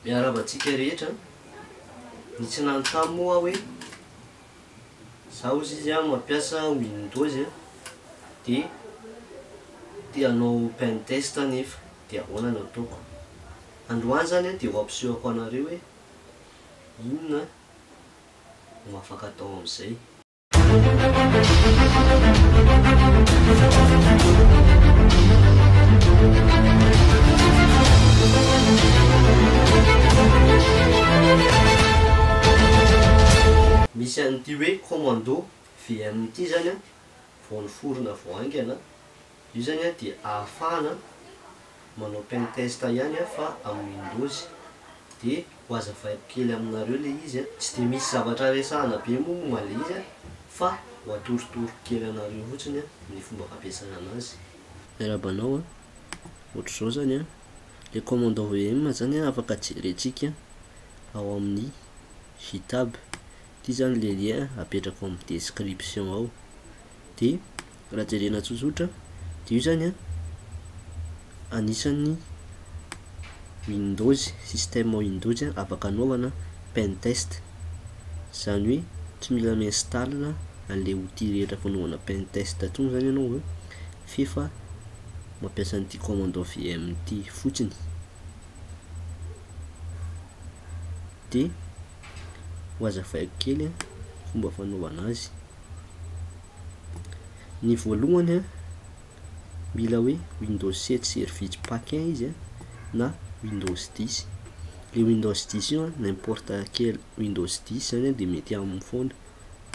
Miarahaba antsika rehetra an! Ny tsy nanontany moa aho hoe za ozy izy an mampiasa windows an dia te hanao pen test aho nefa dia ahoana no ataoko? Androany zany an dia ho ampisehoko anareo hoe inona no afaka atao amin'izay. Misy an'ity hoe commando VM ity zany an, vao niforona vao haingana, Io zany dia ahafahana manao pentest ihany fa amin'ny windows. Dia ho azavaiko kely aminareo ilay izy a. Tsy dia misy zavatra resahana be moa momba ilay izy fa ho atorotoroko kely anareo fotsiny ny fomba fampiasana anazy. Miarahaba anao a, ohatr'izao zany a, le commande env zany a afaka jerentsika ao amin'ny GitHub, ity zany le lien apetrako amin'ny description ao, de raha jerena tsotsotra dia io zany an anisan'ny windows système windows an afaka anaovana pen test zany hoe tsy mila mi-install an'le outil rehetra fanaovana pen test tsony zany ianao an f'efa mampiasa an'ity commando vm ity fotsiny de ho azavaiko kely an fomba fanaovana azy ny voalohany a mila hoe windows sept service pack un izy a na windows dix, le windows dix io a n'importe quel windows dix zany a de mety aminy foana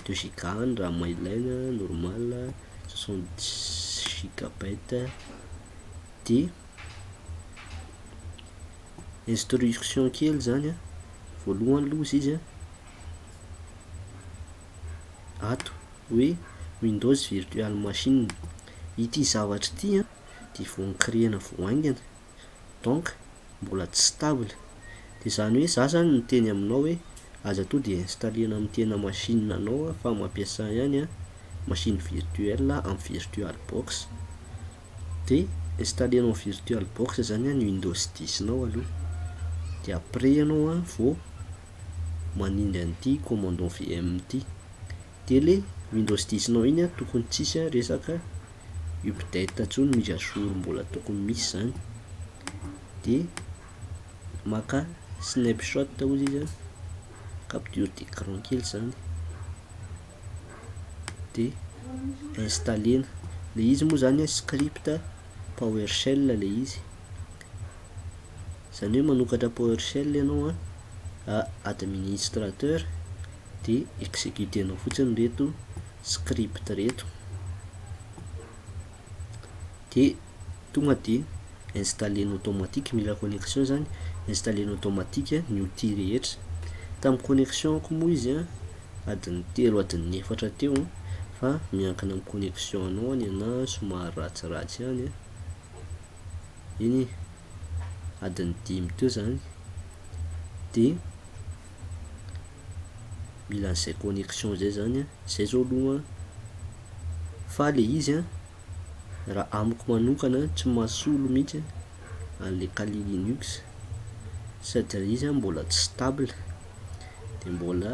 deux giga any raha maha ilaina normal a soixante dix gigabyte de instruction kely zany a voalohany aloha izy a. ato hoe Windows Virtual Machine. Ity zavatra ity an dia vao ni-créer-na vao haingana, donc mbola tsy stable. Dia izany hoe za zany miteny aminao hoe aza to de installer-na amin'ny tena machine anao an fa mampiasa ihany an machine virtuelle amin'ny virtual box. Dia installer-nao ny virtual box zany an ny Windows dix-nao aloha. Dia après ianao an vao. manindry an'ity commandant VM ty. Tele Windows 10 nao iny a tokony tsisy a resaka update ntsony mise à jour mbola tokony misy zany de maka snapshot ozy izy a capture d'écran kely zany de installena le izy moa zany a script power shell le izy izany hoe manokatra PowerShell ianao a, administrateur dia executer-nao fotsiny ireto script ireto dia tonga dia installer-ny automatique, mila connexion izany, installer-ny automatique ny outil rehetra, tamin'ny connexion-ko moa izy a, adin'ny telo adin'ny efatra teo a, fa miankina amin'ny connexion-nao ny anahy somary ratsiratsy ihany a. eny e, adiny dimy teo zany de mila an'izay connexion zay zany an, zay zao aloha an, fa le izy an raha amiko manokana an tsy mahasolo mihitsy an'le kali linux sady ilay izy an mbola tsy stable de mbola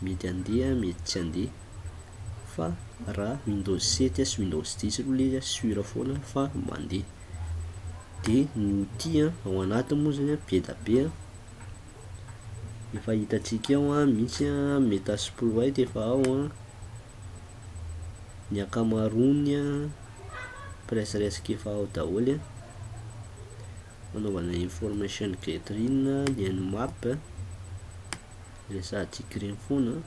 mety andeha mety tsy andeha. fa raha windows sept sy windows dix aloha ilay izy a sur foana fa mandeha dia ny outil a ao anatiny moa zany a be da be a efa hitantsika eo a misy a metasploit efa ao a ny ankamaroany a presrsk efa ao daholo a fanaovana information gathering ny an'ny map a resahantsika ireny foana a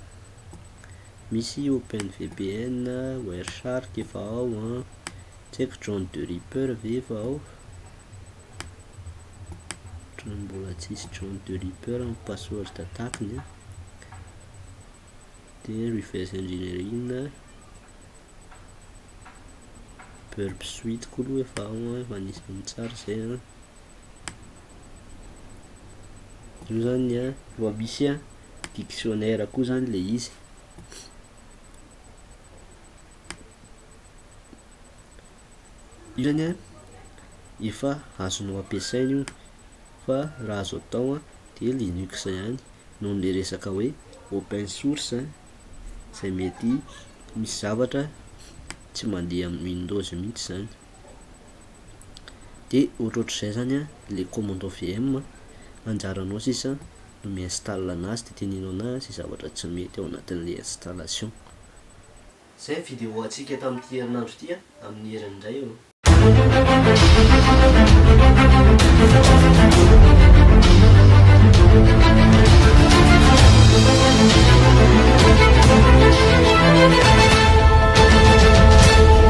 Misy open VPN, Wireshark efa ao an. Ah. Tsy haiko John the Ripper ve efa ao? Otrany mbola tsisy John the Ripper amin'ny password attack-ny an. Dia reverse engineering. Burp suite koa aloha efa ao an, efa nisy amin'ny tsara izay an. Io zany an, efa misy an. dictionnaire koa zany le izy io zany an efa azonao ampiasaina io fa raha azo atao an de linux ihany noho le resaka hoe open source zay mety misy zavatra tsy mandeha amin'ny windows mihintsy zany. de ohatrohatr'izay zany a le commando VM a, anjaranao sisa no mi-install anazy de teneno ana zay zavatra tsy mety ao anatin'le installation. Zay ny vidéo antsika tamin'ity herinandro ity a, amin'ny heriny indray eo.